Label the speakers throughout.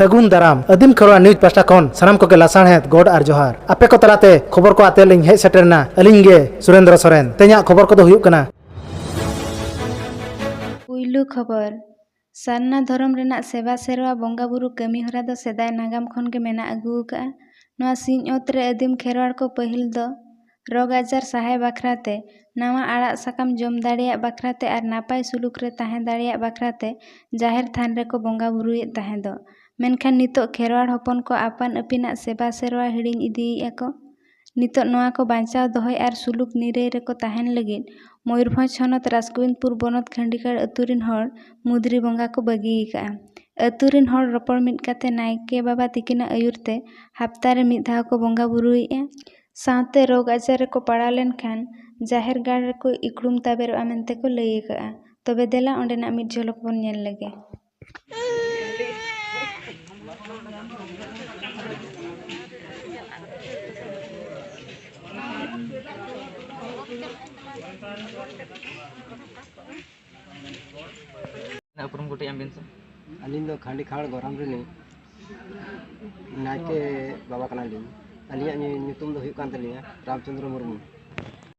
Speaker 1: ᱥᱟᱹᱜᱩᱱ ᱫᱟᱨᱟᱢ ᱟᱹᱫᱤᱢ ᱠᱷᱚᱨᱣᱟ ᱱᱤᱭᱩᱡᱽ ᱯᱟᱥᱴᱟ ᱠᱷᱚᱱ ᱥᱟᱱᱟᱢ ᱠᱚᱜᱮ ᱞᱟᱥᱟᱬᱦᱮᱫ ᱜᱚᱰ ᱟᱨ ᱡᱚᱦᱟᱨ ᱟᱯᱮ ᱠᱚ ᱛᱟᱞᱟᱛᱮ ᱠᱷᱚᱵᱚᱨ ᱠᱚ ᱟᱛᱮ ᱞᱤᱧ ᱦᱮᱡ ᱥᱮᱴᱮᱨᱱᱟ ᱟᱹᱞᱤᱧ ᱜᱮ ᱥᱩᱨᱮᱱᱫᱨᱚ ᱥᱚᱨᱮᱱ ᱛᱮᱦᱮᱧᱟᱜ ᱠᱷᱚᱵᱚᱨ ᱠᱚᱫᱚ ᱦᱩᱭᱩᱜ ᱠᱟᱱᱟ
Speaker 2: ᱯᱩᱭᱞᱩ ᱠᱷᱚᱵᱚᱨ ᱥᱟᱨᱱᱟ ᱫᱷᱚᱨᱚᱢ ᱨᱮᱱᱟᱜ ᱥᱮᱵᱟ ᱥᱮᱨᱣᱟ ᱵᱚᱸᱜᱟ ᱵᱩᱨᱩ ᱠᱟᱹᱢᱤ ᱦᱚᱨᱟ ᱫᱚ ᱥᱮᱫᱟᱭ ᱱᱟᱜᱟᱢ ᱠᱷᱚᱱ ᱜᱮ ᱢᱮᱱᱟᱜ ᱟᱹᱜᱩ ᱟᱠᱟᱫᱼᱟ ᱱᱚᱣᱟ ᱥᱤᱧ ᱚᱛ ᱨᱮ ᱟᱹᱫᱤᱢ ᱠᱷᱮᱨᱣᱟᱲ ᱠᱚ ᱯᱟᱹᱦᱤᱞ ᱫᱚ ᱨᱳᱜᱽ ᱟᱡᱟᱨ ᱥᱟᱦᱟᱭ ᱵᱟᱠᱷᱨᱟ ᱛᱮ ᱱᱟᱣᱟ ᱟᱲᱟᱜ ᱥᱟᱠᱟᱢ ᱡᱚᱢ ᱫᱟᱲᱮᱭᱟᱜ ᱵᱟᱠᱷᱨᱟ ᱛᱮ ᱟᱨ ᱱᱟᱯᱟᱭ ᱥᱩᱞᱩᱠ ᱨᱮ ᱛᱟᱦᱮᱸ ᱫᱟᱲᱮᱭᱟᱜ ᱵᱟᱠᱷᱨᱟ ᱛᱮ ᱡᱟᱦᱮᱨ ᱛᱷᱟᱱ ᱨᱮᱠᱚ ᱵᱚᱸᱜᱟ ᱵᱩᱨᱩᱭᱮᱫ ᱛᱟᱦᱮᱸᱫᱚᱜ ᱢᱮᱱᱠᱷᱟᱱ ᱱᱤᱛᱚᱜ ᱠᱷᱮᱨᱣᱟᱲ ᱦᱚᱯᱚᱱ ᱠᱚ ᱟᱯᱟᱱ ᱟᱹᱯᱤᱱᱟᱜ ᱥᱮᱵᱟ ᱥᱮᱨᱣᱟ ᱦᱤᱲᱤᱧ ᱤᱫᱤᱭᱮᱫᱼᱟ ᱠᱚ ᱱᱤᱛᱚᱜ ᱱᱚᱣᱟ ᱠᱚ ᱵᱟᱧᱪᱟᱣ ᱫᱚᱦᱚᱭ ᱟᱨ ᱥᱩᱞᱩᱠ ᱱᱤᱨᱟᱹᱭ ᱨᱮᱠᱚ ᱛᱟᱦᱮᱱ ᱞᱟᱹᱜᱤᱫ ᱢᱚᱭᱩᱨᱵᱷᱚᱸᱡᱽ ᱦᱚᱱᱚᱛ ᱨᱟᱥᱜᱳᱵᱤᱱᱫᱽᱯᱩᱨ ᱵᱚᱱᱚᱛ ᱠᱷᱟᱸᱰᱤᱠᱟᱲ ᱟᱹᱛᱩ ᱨᱮᱱ ᱦᱚᱲ ᱢᱩᱫᱽᱨᱤ ᱵᱚᱸᱜᱟ ᱠᱚ ᱵᱟᱹᱜᱤ ᱟᱠᱟᱫᱼᱟ ᱟᱹᱛᱩ ᱨᱮᱱ ᱦᱚᱲ ᱨᱚᱯᱚᱲ ᱢᱤᱫ ᱠᱟᱛᱮᱫ ᱱᱟᱭᱠᱮ ᱵᱟᱵᱟ ᱛᱤᱠᱤᱱᱟᱜ ᱟᱹᱭᱩᱨ ᱛᱮ ᱦᱟᱯᱛᱟ ᱨᱮ ᱢᱤᱫ ᱫᱷᱟᱣ ᱠᱚ ᱵᱚᱸᱜᱟ ᱵᱩᱨᱩᱭᱮᱫᱼᱟ ᱥᱟᱶᱛᱮ ᱨᱳᱜᱽ ᱟᱡᱟᱨ ᱨᱮᱠᱚ ᱯᱟᱲᱟᱣ ᱞᱮᱱᱠᱷᱟᱱ ᱡᱟᱦᱮᱨ ᱜᱟᱲ ᱨᱮᱠᱚ ᱤᱠᱷᱲᱩᱢ ᱛᱟᱵᱮᱨᱚᱜᱼᱟ ᱢᱮᱱᱛᱮ ᱠᱚ ᱞᱟᱹᱭ ᱟᱠᱟᱫᱼᱟ ᱛᱚᱵᱮ ᱫᱮᱞᱟ ᱚᱸᱰᱮᱱᱟᱜ ᱢᱤᱫ ᱡᱷᱚᱞᱚᱠ ᱵᱚᱱ ᱧᱮᱞ ᱞᱮᱜᱮ
Speaker 3: ᱩᱯᱨᱩᱢ ᱠᱟᱹᱴᱤᱡ ᱮᱢ ᱵᱤᱱ ᱥᱮ ᱟᱹᱞᱤᱧ ᱫᱚ ᱠᱷᱟᱸᱰᱤ
Speaker 4: ᱠᱷᱟᱲ ᱜᱚᱨᱟᱢ ᱨᱤᱱᱤᱡ ᱱᱟᱭᱠᱮ ᱵᱟᱵᱟ ᱠᱟᱱᱟᱞᱤᱧ ᱟᱹᱞᱤᱧᱟᱜ ᱧᱩᱛᱩᱢ ᱫᱚ ᱦᱩᱭᱩᱜ ᱠᱟᱱ ᱛᱟᱹᱞᱤᱧᱟ ᱨᱟᱢᱪᱚᱱᱫᱨᱚ ᱢᱩᱨᱢᱩ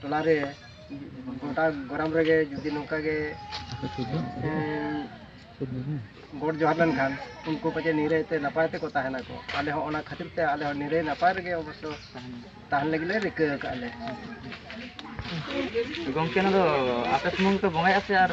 Speaker 4: ᱴᱚᱞᱟ ᱨᱮ ᱜᱚᱴᱟ ᱜᱚᱨᱟᱢ ᱨᱮᱜᱮ ᱡᱩᱫᱤ ᱱᱚᱝᱠᱟ ᱜᱮ ᱜᱚᱰ ᱡᱚᱦᱟᱨ ᱞᱮᱱᱠᱷᱟᱱ ᱩᱱᱠᱩ ᱯᱟᱪᱮ ᱱᱤᱨᱟᱹᱭ ᱛᱮ ᱱᱟᱯᱟᱭ ᱛᱮᱠᱚ ᱛᱟᱦᱮᱱᱟ ᱠᱚ ᱟᱞᱮ ᱦᱚᱸ ᱚᱱᱟ ᱠᱷᱟᱹᱛᱤᱨ ᱛᱮ ᱟᱞᱮ ᱦᱚᱸ ᱱᱤᱨᱟᱹᱭ ᱱᱟᱯᱟᱭ ᱨᱮᱜᱮ ᱚᱵᱚᱥᱥᱚ ᱛᱟᱦᱮᱱ ᱞᱟᱹᱜᱤᱫ ᱞᱮ ᱨᱤᱠᱟᱹ ᱟᱠᱟᱫ ᱞᱮ
Speaker 3: ᱜᱚᱢᱠᱮ ᱱᱚᱣᱟ ᱫᱚ ᱟᱯᱮ ᱥᱩᱢᱩᱝ ᱯᱮ ᱵᱚᱸᱜᱟᱭᱟ ᱥᱮ ᱟᱨ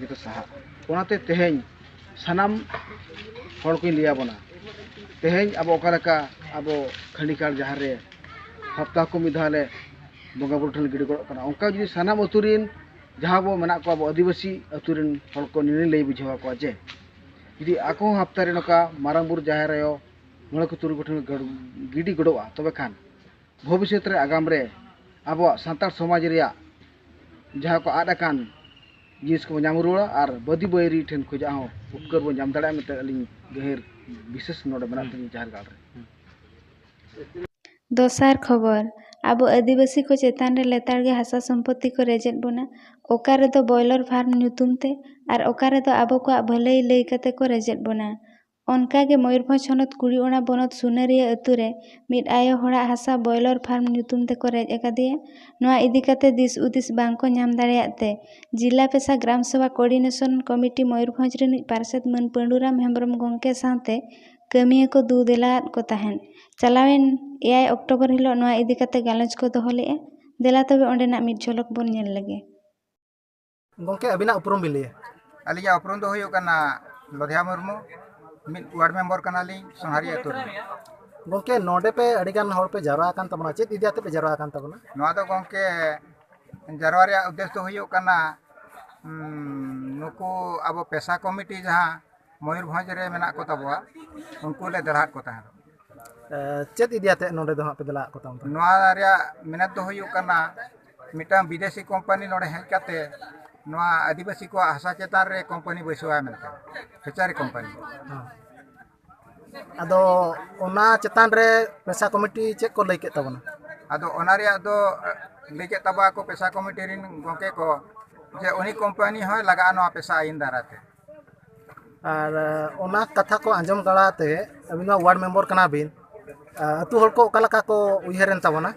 Speaker 4: ᱡᱚᱛᱚ ᱥᱟᱦᱟᱜᱼᱟ ᱚᱱᱟᱛᱮ ᱛᱮᱦᱮᱧ ᱥᱟᱱᱟᱢ ᱦᱚᱲ ᱠᱚᱧ ᱞᱟᱹᱭ ᱟᱵᱚᱱᱟ ᱛᱮᱦᱮᱧ ᱟᱵᱚ ᱚᱠᱟ ᱞᱮᱠᱟ ᱟᱵᱚ ᱠᱷᱟᱺᱰᱤ ᱜᱟᱲ ᱡᱟᱦᱮᱨ ᱨᱮ ᱦᱟᱯᱛᱟ ᱠᱚ ᱢᱤᱫ ᱫᱷᱟᱣ ᱞᱮ ᱵᱚᱸᱜᱟ ᱵᱳᱨᱳ ᱴᱷᱮᱱ ᱞᱮ ᱜᱤᱰᱤ ᱜᱚᱲᱚᱜ ᱠᱟᱱᱟ ᱚᱱᱠᱟ ᱡᱩᱫᱤ ᱥᱟᱱᱟᱢ ᱟᱛᱳ ᱨᱮᱱ ᱡᱟᱦᱟᱸ ᱵᱚᱱ ᱢᱮᱱᱟᱜ ᱠᱚᱣᱟ ᱟᱵᱚ ᱟᱹᱫᱤᱵᱟᱹᱥᱤ ᱟᱛᱳ ᱨᱮᱱ ᱦᱚᱲ ᱠᱚ ᱱᱤᱭᱟᱹ ᱞᱟᱹᱭ ᱵᱩᱡᱷᱟᱹᱣ ᱟᱠᱚᱣᱟ ᱡᱮ ᱡᱩᱫᱤ ᱟᱠᱚ ᱦᱚᱸ ᱦᱟᱯᱛᱟ ᱨᱮ ᱱᱚᱝᱠᱟ ᱢᱟᱨᱟᱝ ᱵᱳᱨᱳ ᱡᱟᱦᱮᱨ ᱟᱭᱳ ᱢᱚᱬᱮ ᱠᱚ ᱛᱩᱨᱩᱭ ᱠᱚᱴᱷᱮᱱ ᱠᱚ ᱜᱤᱰᱤ ᱜᱚᱰᱚᱜᱼᱟ ᱛᱚᱵᱮ ᱠᱷᱟᱱ ᱵᱷᱚᱵᱤᱥᱚᱛ ᱨᱮ ᱟᱜᱟᱢ ᱨᱮ ᱟᱵᱚᱣᱟᱜ ᱥᱟᱱᱛᱟᱲ ᱥᱚᱢᱟᱡᱽ ᱨᱮᱭᱟᱜ ᱡᱟᱦᱟᱸ ᱠᱚ ᱟᱫ ᱟᱠᱟᱱ ᱡᱤᱱᱤᱥ ᱠᱚ ᱧᱟᱢ ᱨᱩᱣᱟᱹᱲᱟ ᱟᱨ ᱵᱟᱹᱫᱤ ᱵᱟᱹᱭᱨᱤ ᱴᱷᱮᱱ ᱠᱷᱚᱱᱟᱜ ᱦᱚᱸ ᱩᱯᱠᱟᱹᱨ ᱵᱚᱱ ᱧᱟᱢ ᱫᱟᱲᱮᱭᱟᱜᱼᱟ ᱢᱮᱱᱛᱮ ᱟᱹᱞᱤᱧ ᱜᱟᱹᱦᱤᱨ ᱵᱤᱥᱮᱥ ᱱᱚᱰᱮ ᱢᱮᱱᱟᱜ ᱛᱟᱹᱞᱤᱧᱟ ᱡᱟᱦᱮᱨ ᱜᱟᱲ ᱨᱮ ᱫᱚᱥᱟᱨ
Speaker 2: ᱠᱷᱚᱵᱚᱨ, ᱟᱵᱚ ᱟᱹᱫᱤᱵᱟᱹᱥᱤ ᱠᱚ ᱪᱮᱛᱟᱱ ᱨᱮ ᱞᱮᱛᱟᱲ ᱜᱮ ᱦᱟᱥᱟ ᱥᱚᱢᱯᱚᱛᱛᱤ ᱠᱚ ᱨᱮᱡ ᱮᱫ ᱵᱚᱱᱟ, ᱚᱠᱟ ᱨᱮᱫᱚ ᱵᱚᱭᱞᱚᱨ ᱯᱷᱟᱨᱢ ᱧᱩᱛᱩᱢ ᱛᱮ ᱟᱨ ᱚᱠᱟ ᱨᱮᱫᱚ ᱟᱵᱚ ᱠᱚᱣᱟᱜ ᱵᱷᱟᱹᱞᱟᱹᱭ ᱞᱟᱹᱭ ᱠᱟᱛᱮ ᱠᱚ ᱨᱮᱡ ᱮᱫ ᱵᱚᱱᱟ᱾ ᱚᱱᱠᱟ ᱜᱮ ᱢᱚᱭᱩᱨᱵᱷᱚᱸᱡᱽ ᱦᱚᱱᱚᱛ ᱠᱩᱲᱤᱚᱲᱟ ᱵᱚᱱᱚᱛ ᱥᱩᱱᱟᱹᱨᱤᱭᱟᱹ ᱟᱹᱛᱩ ᱨᱮ ᱢᱤᱫ ᱟᱭᱳ ᱦᱚᱲᱟᱜ ᱦᱟᱥᱟ ᱵᱚᱭᱞᱚᱨ ᱯᱷᱟᱨᱢ ᱧᱩᱛᱩᱢ ᱛᱮᱠᱚ ᱨᱮᱡ ᱟᱠᱟᱫᱮᱭᱟ᱾ ᱱᱚᱣᱟ ᱤᱫᱤ ᱠᱟᱛᱮ ᱫᱤᱥ ᱩᱫᱤᱥ ᱵᱟᱝ ᱠᱚ ᱧᱟᱢ ᱫᱟᱲᱮᱭᱟᱫ ᱛᱮ ᱡᱤᱞᱟ ᱯᱮᱥᱟ ᱜᱨᱟᱢ ᱥᱮᱵᱟ ᱠᱚᱨᱰᱤᱱᱮᱥᱚᱱ ᱠᱚᱢᱤᱴᱤ ᱢᱚᱭᱩᱨᱵᱷᱚᱸᱡᱽ ᱨᱤᱱᱤᱡ ᱯᱟᱨᱥᱮᱛ ᱢᱟᱹᱱ ᱯᱟᱺᱰᱩᱨᱟᱢ ᱦᱮᱢᱵᱽᱨᱚᱢ ᱜᱚᱢᱠᱮ ᱥᱟᱶᱛᱮ ᱠᱟᱹᱢᱤᱭᱟᱹ ᱠᱚ ᱫᱩ ᱫᱮᱞᱟ ᱟᱫ ᱠᱚ ᱛᱟᱦᱮᱸᱫ᱾ ᱪᱟᱞᱟᱣᱮᱱ ᱮᱭᱟᱭ ᱚᱠᱴᱚᱵᱚᱨ ᱦᱤᱞᱚᱜ ᱱᱚᱣᱟ ᱤᱫᱤ ᱠᱟᱛᱮ ᱜᱟᱞᱚᱪ ᱠᱚ ᱫᱚᱦᱚ ᱞᱮᱫᱼᱟ᱾ ᱫᱮᱞᱟ ᱛᱚᱵᱮ ᱚᱸᱰᱮᱱᱟᱜ ᱢᱤᱫ ᱡᱷᱚᱞᱚᱠ ᱵᱚᱱ ᱧᱮᱞ ᱞᱮᱜᱮ᱾
Speaker 1: ᱜᱚᱝᱠᱮ ᱟᱹᱵᱤᱱᱟᱜ ᱩᱯᱨᱩᱢ ᱵᱤᱱ ᱞᱟᱹᱭᱟ ᱟᱹᱞᱤᱧᱟᱜ ᱩᱯᱨᱩᱢ ᱫᱚ
Speaker 5: ᱦᱩᱭᱩᱜ ᱠᱟᱱᱟ ᱞᱚᱫᱷᱭᱟ ᱢᱩᱨᱢᱩ ᱢᱤᱫ ᱣᱟᱨᱰ ᱢᱮᱢᱵᱚᱨ ᱠᱟᱱᱟᱞᱤᱧ ᱥᱚᱱᱦᱟᱨᱤ ᱟᱹᱛᱩ ᱨᱮ ᱜᱚᱝᱠᱮ
Speaker 1: ᱱᱚᱰᱮ ᱯᱮ ᱟᱹᱰᱤ ᱜᱟᱱ ᱦᱚᱲ ᱯᱮ ᱡᱟᱣᱨᱟ ᱟᱠᱟᱱ ᱛᱟᱵᱚᱱᱟ ᱪᱮᱫ ᱤᱫᱤ ᱟᱛᱮ ᱯᱮ ᱡᱟᱣᱨᱟ ᱟᱠᱟᱱ ᱛᱟᱵᱚᱱᱟ ᱱᱚᱣᱟ ᱫᱚ ᱜᱚᱝᱠᱮ
Speaker 5: ᱡᱟᱨᱣᱟ ᱨᱮᱭᱟᱜ ᱩᱫᱽᱫᱮᱥ ᱫᱚ ᱦᱩᱭᱩᱜ ᱠᱟᱱᱟ ᱱᱩᱠᱩ ᱟᱵᱚ ᱯᱮᱥᱟ ᱠᱚᱢᱤᱴᱤ ᱡᱟᱦᱟᱸ ᱢᱚᱭᱩᱨᱵᱷᱚᱸᱡᱽ ᱨᱮ ᱢᱮᱱᱟᱜ ᱠᱚ ᱛᱟᱵᱚᱣᱟ ᱩᱱᱠᱩ ᱞᱮ ᱫᱟᱲᱟᱜ ᱠᱚ ᱛᱟᱦᱮᱸᱫ
Speaker 1: ᱪᱮᱫ ᱤᱫᱤ ᱟᱛᱮ ᱱᱚᱰᱮ ᱫᱚ ᱦᱟᱸᱜ ᱯᱮ ᱫᱟᱲᱟᱜ ᱠᱚ ᱛᱟᱵᱚᱱᱟ ᱱᱚᱣᱟ ᱨᱮᱭᱟᱜ
Speaker 5: ᱢᱮᱱᱮᱛ ᱫᱚ ᱦᱩᱭᱩᱜ ᱠᱟᱱᱟ ᱢᱤᱫᱴᱟᱝ ᱵᱤᱫᱮᱥᱤ ᱠᱳᱢᱯᱟᱱᱤ ᱱᱚᱰᱮ ᱦᱮᱡ ᱠᱟᱛᱮ ᱱᱚᱣᱟ ᱟᱹᱫᱤᱵᱟᱹᱥᱤ ᱠᱚᱣᱟᱜ ᱦᱟᱥᱟ ᱪᱮᱛᱟᱱ ᱨᱮ ᱠᱳᱢᱯᱟᱱᱤ ᱵᱟᱹᱭᱥᱟᱹᱣᱟ ᱢᱮᱱᱛᱮ ᱯᱷᱮᱪᱟᱨᱤ ᱠᱳᱢᱯᱟᱱᱤ
Speaker 1: ᱟᱫᱚ ᱚᱱᱟ ᱪᱮᱛᱟᱱ ᱨᱮ ᱯᱮᱥᱟ ᱠᱚᱢᱤᱴᱤ ᱪᱮᱫ ᱠᱚ ᱞᱟᱹᱭ ᱠᱮᱫ ᱛᱟᱵᱚᱱᱟ ᱟᱫᱚ ᱚᱱᱟ ᱨᱮᱭᱟᱜ
Speaker 5: ᱫᱚ ᱞᱟᱹᱭ ᱠᱮᱫ ᱛᱟᱵᱚᱣᱟ ᱠᱚ ᱯᱮᱥᱟ ᱠᱚᱢᱤᱴᱤ ᱨᱮᱱ ᱜᱚᱢᱠᱮ ᱠᱚ ᱡᱮ ᱩᱱᱤ ᱠᱳᱢᱯᱟᱱᱤ ᱦᱚᱸᱭ ᱞᱟᱜᱟᱜᱼᱟ ᱱᱚᱣᱟ ᱯᱮᱥᱟ ᱟᱹᱭᱤᱱ ᱫᱟᱨᱟᱭ ᱛᱮ
Speaker 1: ᱟᱨ ᱚᱱᱟ ᱠᱟᱛᱷᱟ ᱠᱚ ᱟᱸᱡᱚᱢ ᱵᱟᱲᱟ ᱛᱮ ᱟᱹᱵᱤᱱ ᱢᱟ ᱚᱣᱟᱨᱰ ᱢᱮᱢᱵᱚᱨ ᱠᱟᱱᱟ ᱵᱤᱱ ᱟᱛᱳ ᱦᱚᱲ ᱠᱚ ᱚᱠᱟ ᱞᱮᱠᱟ ᱠᱚ ᱩᱭᱦᱟᱹᱨ ᱮᱱ ᱛᱟᱵᱚᱱᱟ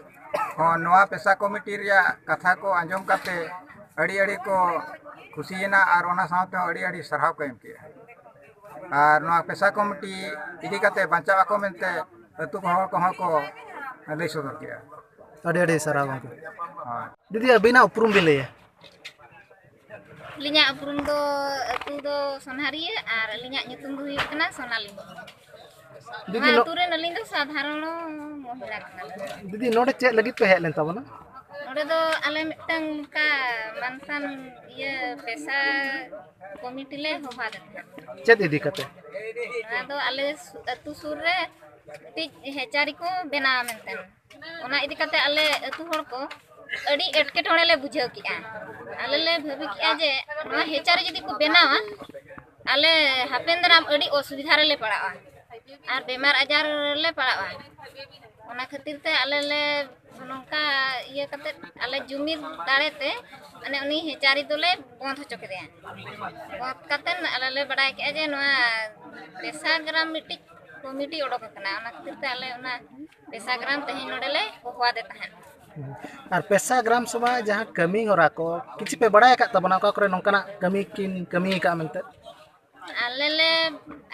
Speaker 1: ᱦᱚᱸ ᱱᱚᱣᱟ
Speaker 5: ᱯᱮᱥᱟ ᱠᱚᱢᱤᱴᱤ ᱨᱮᱭᱟᱜ ᱠᱟᱛᱷᱟ ᱠᱚ ᱟᱸᱡᱚᱢ ᱠᱟᱛᱮ ᱟᱹᱰᱤ ᱟᱹᱰᱤ ᱠᱚ ᱠᱩᱥᱤᱭᱮᱱᱟ ᱟᱨ ᱚᱱᱟ ᱥᱟᱶᱛᱮ ᱦᱚᱸ ᱟᱹᱰᱤ ᱟᱹᱰᱤ ᱥᱟᱨᱦᱟᱣ ᱠᱚ ᱮᱢ ᱠᱮᱜᱼᱟ ᱟᱨ ᱱᱚᱣᱟ ᱯᱮᱥᱟ ᱠᱚᱢᱤᱴᱤ ᱤᱫᱤ ᱠᱟᱛᱮ ᱵᱟᱧᱪᱟᱜ ᱟᱠᱚ ᱢᱮᱱᱛᱮ ᱟᱛᱳ ᱦᱚᱲ ᱠᱚᱦᱚᱸ ᱠᱚ ᱞᱟᱹᱭ
Speaker 1: ᱥᱚᱫᱚᱨ ᱠᱮᱜᱼᱟ ᱟᱹᱰᱤ ᱟᱹᱰᱤ ᱥᱟᱨᱦᱟᱣ ᱜᱚᱢᱠᱮ ᱦᱳᱭ ᱫᱤᱫᱤ ᱟᱹᱵᱤᱱᱟᱜ ᱩᱯᱨᱩᱢ
Speaker 5: ᱵᱤᱱ
Speaker 1: ᱞᱟᱹᱭᱟ
Speaker 6: ᱟᱹᱞᱤᱧᱟᱜ ᱩᱯᱨᱩᱢ ᱫᱚ ᱟᱹᱛᱩ ᱫᱚ ᱥᱚᱱᱦᱟᱨᱤᱭᱟᱹ ᱟᱨ ᱟᱹᱞᱤᱧᱟᱜ ᱧᱩᱛᱩᱢ ᱫᱚ ᱦᱩᱭᱩᱜ ᱠᱟᱱᱟ ᱥᱚᱱᱟᱞᱤ ᱱᱚᱣᱟ
Speaker 1: ᱟᱹᱛᱩ ᱨᱮᱱ ᱟᱹᱞᱤᱧ ᱫᱚ
Speaker 6: ᱥᱟᱫᱷᱟᱨᱚᱱ ᱢᱚᱦᱤᱞᱟ ᱠᱟᱱᱟᱞᱤᱧ ᱫᱤᱫᱤ ᱱᱚᱰᱮ ᱪᱮᱫ
Speaker 1: ᱞᱟᱹᱜᱤᱫ ᱯᱮ ᱦᱮᱡ ᱞᱮᱱ ᱛᱟᱵᱚᱱᱟ ᱱᱚᱰᱮ ᱫᱚ
Speaker 6: ᱟᱞᱮ ᱢᱤᱫᱴᱟᱝ ᱚᱱᱠᱟ ᱢᱟᱱᱥᱟᱱ ᱤᱭᱟᱹ ᱯᱮᱥᱟ ᱠᱚᱢᱤᱴᱤ ᱞᱮ ᱦᱚᱦᱚ ᱟᱫᱮ ᱛᱟᱦᱮᱸᱫ ᱪᱮᱫ ᱤᱫᱤ ᱠᱟᱛᱮ
Speaker 1: ᱱᱚᱣᱟ ᱫᱚ
Speaker 6: ᱟᱞᱮ ᱟᱹᱛᱩ ᱥᱩᱨ ᱨᱮ ᱢᱤᱫᱴᱤᱡ ᱦᱮᱪᱟᱨᱤ ᱠᱚ ᱵᱮᱱᱟᱣᱟ ᱢᱮᱱᱛᱮ ᱚᱱᱟ ᱤᱫᱤ ᱠᱟᱛᱮ ᱟᱞᱮ ᱟᱹᱛᱩ ᱦᱚᱲ ᱠᱚ ᱟᱹᱰᱤ ᱮᱴᱠᱮᱴᱚᱬᱮ ᱞᱮ ᱵᱩᱡᱷᱟᱹᱣ ᱠᱮᱜᱼᱟ ᱟᱞᱮ ᱞᱮ ᱵᱷᱟᱹᱵᱤ ᱠᱮᱜᱼᱟ ᱡᱮ ᱱᱚᱣᱟ ᱦᱮᱪᱟᱨᱮ ᱡᱩᱫᱤ ᱠᱚ ᱵᱮᱱᱟᱣᱟ ᱟᱞᱮ ᱦᱟᱯᱮᱱ ᱫᱟᱨᱟᱢ ᱟᱹᱰᱤ ᱚᱥᱩᱵᱤᱫᱷᱟ ᱨᱮᱞᱮ ᱯᱟᱲᱟᱜᱼᱟ ᱟᱨ ᱵᱮᱢᱟᱨ ᱟᱡᱟᱨ ᱨᱮᱞᱮ ᱯᱟᱲᱟᱜᱼᱟ ᱚᱱᱟ ᱠᱷᱟᱹᱛᱤᱨ ᱛᱮ ᱟᱞᱮ ᱞᱮ ᱱᱚᱝᱠᱟ ᱤᱭᱟᱹ ᱠᱟᱛᱮ ᱟᱞᱮ ᱡᱩᱢᱤᱫ ᱫᱟᱲᱮ ᱛᱮ ᱢᱟᱱᱮ ᱩᱱᱤ ᱦᱮᱪᱟᱨᱤ ᱫᱚᱞᱮ ᱵᱚᱸᱫᱽ ᱦᱚᱪᱚ ᱠᱮᱫᱮᱭᱟ ᱵᱚᱸᱫᱽ ᱠᱟᱛᱮ ᱟᱞᱮ ᱞᱮ ᱵᱟᱰᱟᱭ ᱠᱮᱜᱼᱟ ᱡᱮ ᱱᱚᱣᱟ ᱯᱮᱥᱟ ᱜᱨᱟᱢ ᱢᱤᱫᱴᱤᱡ ᱠᱚᱢᱤᱴᱤ ᱚᱰᱚᱠ ᱟᱠᱟᱱᱟ ᱚᱱᱟ ᱠᱷᱟᱹᱛᱤᱨ ᱛᱮ ᱟᱞᱮ ᱚᱱᱟ
Speaker 1: ᱯᱮᱥᱟ ᱜᱨᱟᱢ ᱛᱮᱦᱮᱧ ᱱᱚᱰᱮ ᱞᱮ ᱦᱚᱦᱚᱣᱟᱫᱮ ᱛᱟᱦᱮᱸᱫ ᱟᱨ ᱯᱮᱥᱟ ᱜᱨᱟᱢ ᱥᱚᱵᱷᱟ ᱡᱟᱦᱟᱸ ᱠᱟᱹᱢᱤ ᱦᱚᱨᱟ ᱠᱚ ᱠᱤᱪᱷᱩ ᱯᱮ ᱵᱟᱲᱟᱭ ᱟᱠᱟᱫ ᱛᱟᱵᱚᱱᱟ ᱚᱠᱟ ᱠᱚᱨᱮ ᱱᱚᱝᱠᱟᱱᱟᱜ ᱠᱟᱹᱢᱤ ᱠᱤᱱ ᱠᱟᱹᱢᱤ ᱟᱠᱟᱫ ᱢᱮᱱᱛᱮ ᱟᱞᱮ ᱞᱮ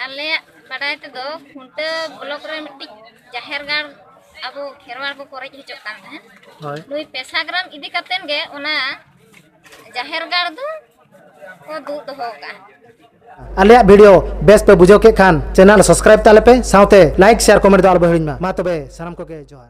Speaker 6: ᱟᱞᱮᱭᱟᱜ ᱵᱟᱰᱟᱭ ᱛᱮᱫᱚ ᱠᱷᱩᱱᱴᱟᱹ ᱵᱞᱚᱠ ᱨᱮ ᱢᱤᱫᱴᱤᱡ ᱡᱟᱦᱮᱨ ᱜᱟᱲ ᱟᱵᱚ ᱠᱷᱮᱨᱣᱟᱲ ᱠᱚ ᱠᱚᱨᱮᱡ ᱦᱚᱪᱚᱜ ᱠᱟᱱ ᱛᱟᱦᱮᱸᱫ ᱱᱩᱭ ᱯᱮᱥᱟ
Speaker 1: ᱜᱨᱟᱢ
Speaker 6: ᱤᱫᱤ ᱠᱟᱛᱮᱫ ᱜᱮ ᱚᱱᱟ ᱡᱟᱦᱮᱨ ᱜᱟᱲ ᱫᱚ ᱟᱞᱮᱭᱟᱜ
Speaker 1: ᱵᱷᱤᱰᱤᱭᱳ ᱵᱮᱥ ᱯᱮ ᱵᱩᱡᱷᱟᱹᱣ ᱠᱮᱫ ᱠᱷᱟᱱ ᱪᱮᱱᱮᱞ ᱥᱟᱵᱥᱠᱨᱟᱭᱤᱵ ᱛᱟᱞᱮ ᱯᱮ ᱥᱟᱶᱛᱮ ᱞᱟᱭᱤᱠ ᱥᱮᱭᱟᱨ ᱠᱚᱢᱮᱱᱴ ᱫᱚ ᱟᱞᱚ ᱯᱮ ᱦᱤᱲᱤᱧ ᱢᱟ ᱢᱟ ᱛᱚᱵᱮ ᱥᱟᱱᱟᱢ ᱠᱚᱜᱮ ᱡᱚᱦᱟᱨ